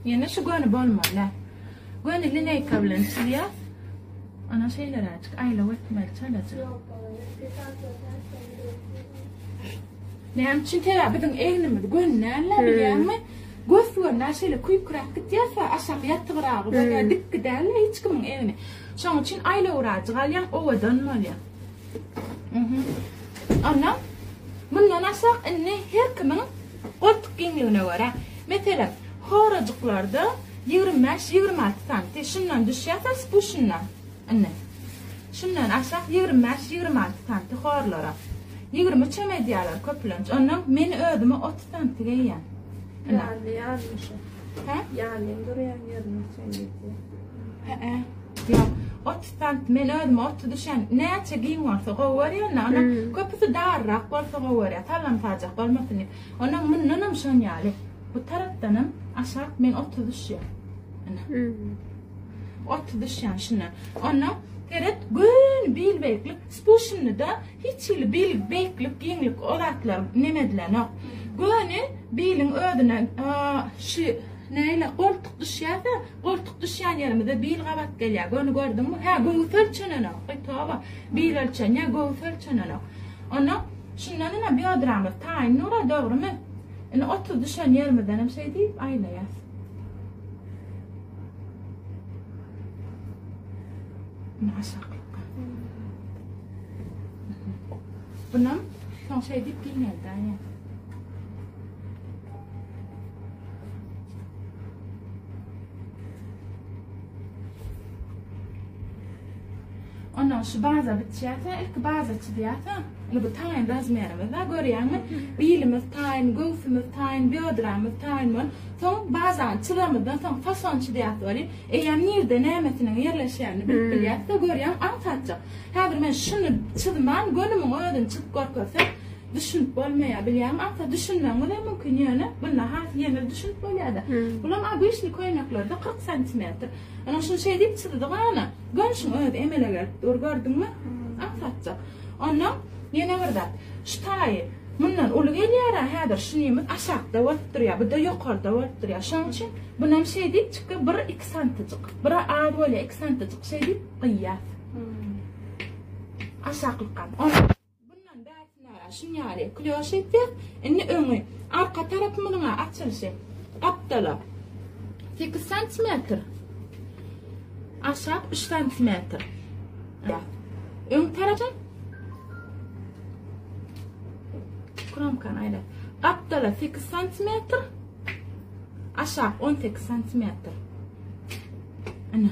Ýene şu göni bolmaly. Lä. Göni lineýka bilen çyzýar. Ana şeýleräçik aýlaw etmeli çalaja. Näme üçin täze biziň egnimiz göni näme bilýärmi? Göz göni näşeýle küýkräk gitýärse aşak ýatygyragy bolýar, dik gidäli hiç kimiň egni. Şoň üçin aýlawraçy galýan owadan bolýar. Mhm. Ana bundan aşak indi her kimiň Goltuk giňligine görä, meselem, horajyklarda ýigrimi bäş, ýigrimi alty santi şundan düşýärsiň spuşindan. Indi. Şundan aşak ýigrimi bäş, ýigrimi alty santi horlara. Ýigrimi üçem edýärler köplenç. Ondan men özüme otuz santi geýýän. Ýanly ýanly şu. Hä? Ýanly durýan ýerine üçem edýär. Hä-ä. Ýok. Otuz sant men özüme otuz düşen. Näçe giň bolsa gowy görýän-de, onuň köpüsi darrak bolsa gowy görýän. Sallamsajak bolmasyn diýip. Onuň mundanam şon ýaly. Bu tarapdanam aşak men otuz düşýän. Ine. Otuz düşýän şuna. Onda seret, göni bil beýiklik, spushynda hiç hili bil beýiklik, giňlik o zatlar neme edilenok. Göni biliň özüne şu näle goltuk düşýärse, Goltuk düşýän ýerimize bil gabat gelýär. Göni gördüňmi? Hä, göwüs ölçenenok. Aý, toba. Bil ölçenýär, göwüs ölçenenok. Onda şundan ine biodramyz taýyn durar, dogrymy? Ine otuz düşen ýerimizden hem şeý diýip aýlaýas. Ine aşaklykka. Bunam soň şeý diýip giňeldi, aýe. Ondan şu baza bitýärse, ilki baza çyzýarsa, indi bu taýyn razmerimiz bar, görýäňmi? Bilimiz taýyn, göwsümiz taýyn, biodramyz taýyn bol. Soň bazany çyzamyzdan soň fason çyzýarys weli, eýýäm nirde nämetiniň ýerleşýänini bilip hmm. bilýäris, görýäň, aň Häzir men şuny çyzman, gönümiň özüni çyzyp görkezsem, düşünip bolmaýar bilýäňmi aňsat düşünmegiňizem mümkin ýöne bunda has ýeňil düşünip bolýada bulam obyçnyý köýneklerde kyrk santimetr ynha şuny şeý diýip çyzdyk ana göwnşiň özi emele gelip dur gördüňmi aňsatjak onnoň ýene bir zat şu taýy mundan uly gelýärä häzir şunymyz aşakda bolup durýar bu-da ýokarda bolup durýar şoň üçin bunam şeý diýip çykýar bir iki santyjyk bir az bolýar iki santyjyk şeý diýip gyýýas aşaklykam Bundan bärsinara şun ýaly klýoş etýäs. Indi öňi, arka tarapymyzyň-a açylyşy gapdala sekiz santimetr, aşak üç santimetr. Öň tarapy kromkany aýla. Gapdala sekiz santimetr, aşak on sekiz santimetr. Ana.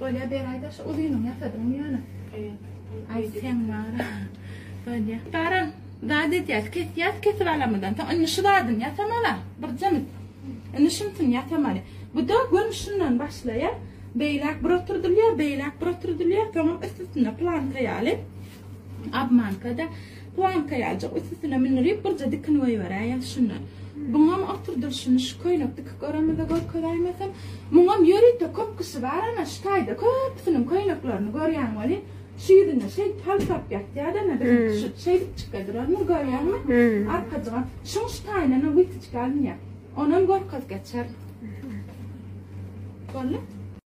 Bolýa beraýda şu uzynyň ýasadyňmy ýöne? Aý sen bar. Bolýa. Garan, zat edýäs, kesýäs, kesip alamydan. Soň indi şu zadyny ýasamala. Bir jemit. Indi şunsyn ýasamaly. Bu da gön şundan başlaýar. Beýläk bir oturdylýar, beýläk bir oturdylýar. Soňam üst-üstüne planka ýaly. Obmanka-da planka ýaljak üstüsine mündürip birje dikin goýberäýeň şunda. Buňam oturdylyşyny şu köýnek dikip görenize görkeräýmesem, muňam ýörite köp kişi bar ana şu taýda köpüsiniň köýneklerini görýän welin şu ýüzüne şeýdip halsap ýatýada ana dikin tuşup şeýdip çyka duranyny görýäňmi arkajygam şuň şu taýyndanam witiçka alynýa onam görkez geçer boldy.